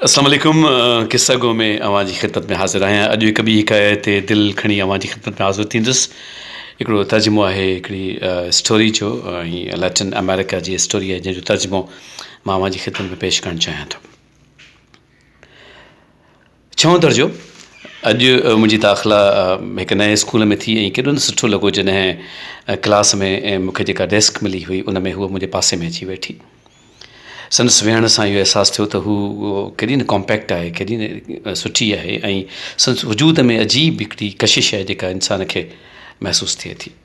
السلام عليڪم قصه گو ۾ اوهان جي خدمت ۾ حاضر آهيان اڄ هڪ ٻي حڪايت تي دل کڻي اوهان جي خدمت ۾ حاضر ٿيندس هڪڙو ترجمو آهي هڪڙي اسٽوري جو ۽ ليٽن آمريڪا جي اسٽوري آهي جنهن جو ترجمو مان اوهان جي خدمت ۾ پيش ڪرڻ چاهيان ٿو ڇهون درجو اڄ منهنجي داخلا هڪ نئين اسڪول ۾ ٿي ۽ ڪيڏو نه سٺو لڳو جڏهن ڪلاس ۾ مونکي جيڪا ڊيسڪ ملي هئي ان ۾ هوء منهنجي پاسي ۾ اچي ويٺي سندس ويهڻ سان اهو احساس ٿيو ته هو ڪيڏي نه ڪامپيڪٽ آهي ڪيڏي نه سٺي آهي ۽ سندس وجود ۾ عجيب هڪڙي ڪشش آهي جيڪا انسان کي محسوس ٿئي ٿي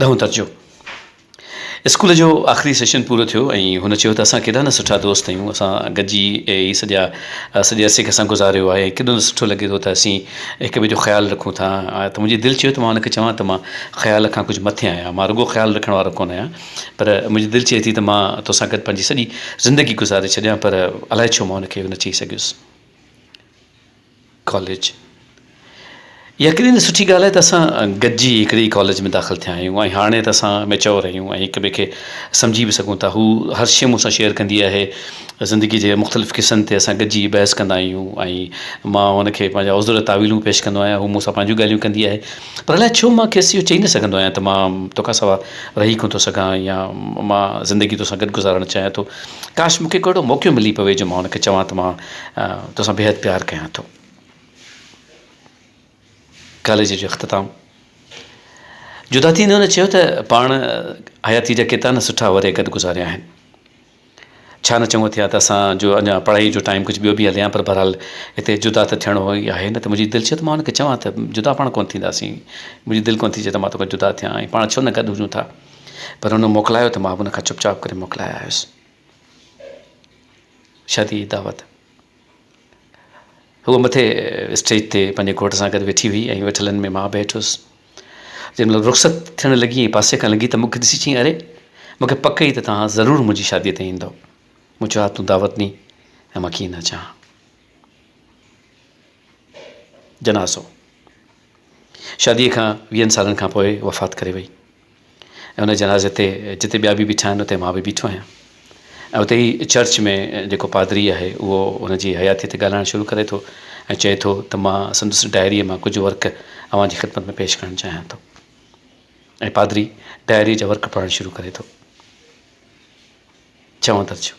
ڏهون درجو اسڪول جو آخري سيشن پورو ٿيو ۽ هن چيو ته اسان ڪيڏا نه سٺا دوست آهيون اسان گڏجي هي سڄا سڄي عرصي کي اسان گذاريو آهي ڪيڏو نه سٺو لڳي ٿو ته اسين هڪ ٻئي جو خيال رکون ٿا ته منهنجي دل چيو ته مان هن کي چوان ته مان خيال کان ڪجهه مٿي آهيان مان رڳو خيال رکڻ وارو ڪونه آهيان پر منهنجي دل چئي ٿي ته مان توسان گڏ پنهنجي سڄي زندگي گذاري ڇڏيان پر الائي ڇو مان هن کي اهو نه چئي سگهيس ڪاليج يقينن جي سٺي ڳالهه آهي ته اسان گڏجي هڪڙي ڪاليج ۾ داخل ٿيا آهيون ۽ هاڻي ته اسان ميچوئر آهيون ۽ هڪ ٻئي کي سمجهي به سگهون ٿا هو هر شيء مون سان شيئر ڪندي آهي زندگي جي مختلف قصن تي اسان گڏجي بحث ڪندا آهيون ۽ مان هن کي پنهنجا عذر تاويلون پيش ڪندو آهيان هو مون سان پنهنجون ڳالهيون ڪندي آهي پر الائي ڇو مان کيس اهو چئي نه سگهندو آهيان ته مان توکان سوا رهي ڪونه ٿو سگهان يا مان زندگي توسان گڏ گذارڻ چاهيان ٿو ڪاش مون کي ڪو اهڙو موقعو ملي پوي جو مان هن کي چوان ته مان توسان بيحد پيار ڪيان ٿو. ڪاليج جو اختتام جدا ٿيندي هن چيو ته پاڻ حياتي جا ڪيترا نه سٺا ورهيه گڏ گذاريا آهن ڇا نه چڱو ٿئي ها ته اسان جو اڃا پڙهائي جو ٽائيم ڪجهه ٻيو به هلي ها پر بهرحال هتي جدا ته ٿيڻو ئي آهي نه ته منهنجي دل چيو ته مان هن کي چوان ته جدا پاڻ ڪونه ٿينداسين منهنجي دل ڪونه ٿي چئي ته مان توکان جدا ٿيان ۽ پاڻ ڇو نه گڏ هجون ٿا پر هن موڪلايو ته مان به هن کان چپ چاپ ڪري موڪلائي آيس شاديء جي دعوت. هوء مٿي اسٽيج تي پنهنجي گهوٽ سان گڏ ويٺي هئي ۽ ويٺلن ۾ مان به هيٺ هيس. جنهن مهل رخصت ٿيڻ لڳي ۽ پاسي کان لنگهي ته مون کي ڏسي چيائين، اري! مون کي پڪ هئي ته توهان ضرور منهنجي شاديء تي ايندؤ. مون چيو، ها تون دعوت ڏينهن ۽ مان ڪيئن نه اچان ها. جنازو. شاديء کان ويهن سالن کان پوء وفات ڪري وئي. ۽ ان جنازي تي جتي ٻيا به بيٺا آهن اتي مان به بيٺو آهيان ۽ اتي ئي چرچ ۾ جيڪو پادري آهي اهو هن جي حياتيء تي ڳالهائڻ شروع ڪري ٿو ۽ چئي ٿو ته مان سندس ڊائريء مان ڪجهه ورق اوهان جي خدمت ۾ پيش ڪرڻ چاهيان ٿو ۽ پادري ڊائريء جا ورق پڙهڻ شروع ڪري ٿو. ڇهون درجو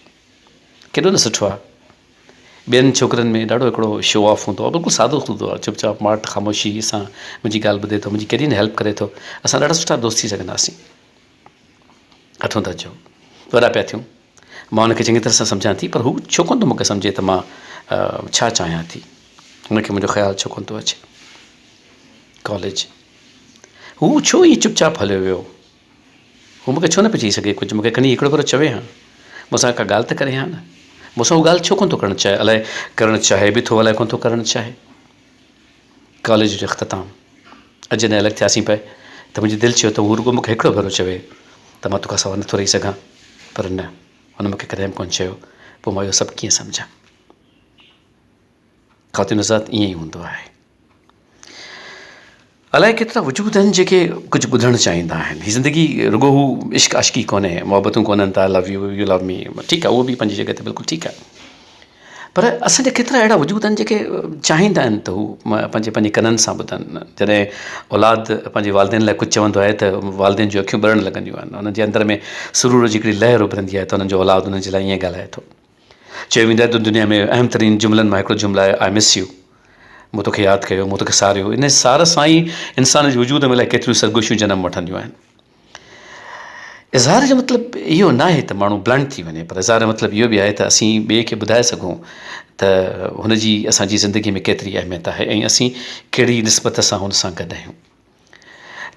ڪيڏو نه سٺو آهي. ٻين ڇوڪرين ۾ ڏاڍو هڪڙو شو آف هوندو آهي بلڪل سادو سودو آهي چپ چاپ ماٺ خاموشي سان منهنجي ڳالهه ٻڌي ٿو منهنجي ڪيڏي نه هيلپ ڪري ٿو اسان ڏاڍا سٺا دوست ٿي سگهنداسين اٺون درجو وڏا پيا ٿيون مان هن کي چڱي طرح سان سمجهان ٿي پر هو ڇو ڪونه ٿو مون کي سمجهي ته مان ڇا چاهيان ٿي هن کي منهنجو خيال ڇو ڪونه ٿو اچي ڪاليج هو ڇو ائين چپ چاپ هليو ويو هو مون کي ڇو نه پئي چئي سگهي ڪجهه؟ مون کي کڻي هڪڙو ڀيرو چوي ها. مون سان ڪا ڳالهه ته ڪري ها نه. مون سان اها ڳالهه ڇو ڪونه ٿو ڪرڻ چاهي. الائي ڪرڻ چاهي به ٿو الائي ڪونه ٿو ڪرڻ چاهي. ڪاليج جو اختتام. اڄ جڏهن الڳ ٿياسين پئي ته منهنجي دل چيو ته هو رڳو مون کي هڪڙو ڀيرو چوي ته مان توکان سوا نه ٿو رهي سگهان. پر نه. هن مون کي ڪڏهن به ڪونه چيو. پوء مان اهو سڀ ڪيئن سمجهان. خاتون حضرات ائين ئي هوندو آهي. الائي ڪيترا وجود آهن جيڪي ڪجهه ٻڌڻ چاهيندا آهن هي زندگي رڳو هو عشق عاشقي ڪونهي محبتون ڪونهن ته I love you you love me ٺيڪ آهي اهو به پنهنجي جڳهه تي بلڪل ٺيڪ آهي پر اسان جا ڪيترا اهڙا وجود آهن جيڪي چاهيندا آهن ته هو پنهنجي پنهنجي ڪنن سان ٻڌن جڏهن اولاد پنهنجي والدين لاء ڪجهه چوندو آهي ته والدين جون اکيون ٻرڻ لڳنديون آهن انهن جي اندر ۾ سرور جي هڪڙي لهر اڀرندي آهي ته انهن جو اولاد انهن جي لاء ائين ڳالهائي ٿو چيو ويندو آهي ته دنيا ۾ اهم ترين جملن مان هڪڙو جملو آهي آء مس يو مون توکي ياد ڪيو مون توکي ساريو ان سار سان ئي انسان جي وجود ۾ الائي ڪيتريون سرگوشيون جنم وٺنديون آهن اظهار جو مطلب اهو ناهي ته ماڻهو بلنٽ ٿي وڃي پر اظهار جو مطلب اهو به آهي ته اسين ٻئي کي ٻڌائي سگهون ته هن جي اسان جي زندگي ۾ ڪيتري اهميت آهي ۽ اسين ڪهڙي نسبت سان هن سان گڏ آهيون.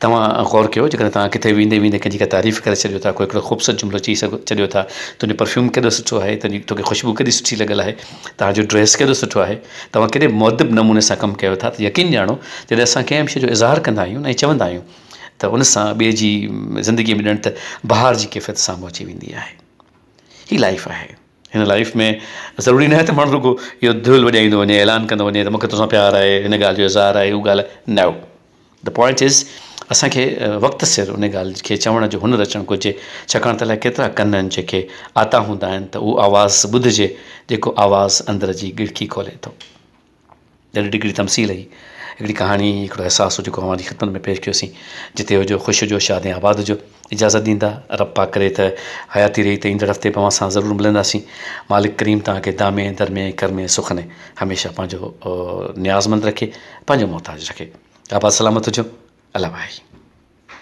توهان غور ڪيو جيڪڏهن توهان ڪٿي ويندي ويندي ڪنهن جي ڪا تعريف ڪري ڇڏيو ٿا ڪو هڪڙو خوبصورت جملو چئي سگهو ڇڏيو ٿا تنهنجو پرفيوم ڪيڏو سٺو آهي تنهنجي توکي خوشبو ڪيڏي سٺي لڳل آهي توهان جو ڊريس ڪيڏو سٺو آهي توهان ڪيڏي مهذب نموني سان ڪم ڪيو ٿا ته يقين ڄاڻو جڏهن اسان ڪنهن به شيء جو اظهار ڪندا آهيون ۽ چوندا آهيون ته ان سان ٻئي جي زندگي ۾ ڄڻ ته بهار جي ڪيفيت سامهون اچي ويندي آهي هي لائف آهي هن لائيف ۾ ضروري ناهي ته ماڻهو رڳو اهو دول وڄائيندو وڃي اعلان ڪندو وڃي ته مونکي توسان پيار آهي هن ڳالهه جو اظهار آهي هو ڳالهه نو دي پوائنٽ از اسانکي وقت سر ان ڳالهه کي چوڻ جو هنر اچڻ گهرجي ڇاڪاڻ ته الاء ڪيترا ڪن آهن جيڪي آتا هوندا آهن ته اهو آواز ٻڌجي جيڪو آواز اندر جي ڳڙڪي کولي ٿو ڏاڍي ڏگهي تمثيل هئي هڪڙي ڪهاڻي هڪڙو احساس جيڪو اوهان جي خدمت ۾ پيش ڪيوسين جتي هجو خوش هجو شاد ۽ آباد هجو اجازت ڏيندا رب پاڪ ڪري ته حياتي رهي ته ايندڙ هفتي به اوهان سان ضرور ملنداسين مالڪ ڪريم توهان کي دامي درمي ڪرمي سخني هميشه پنهنجو نياز مند رکي پنهنجو محتاج رکي آباد سلامت هجو الله وائي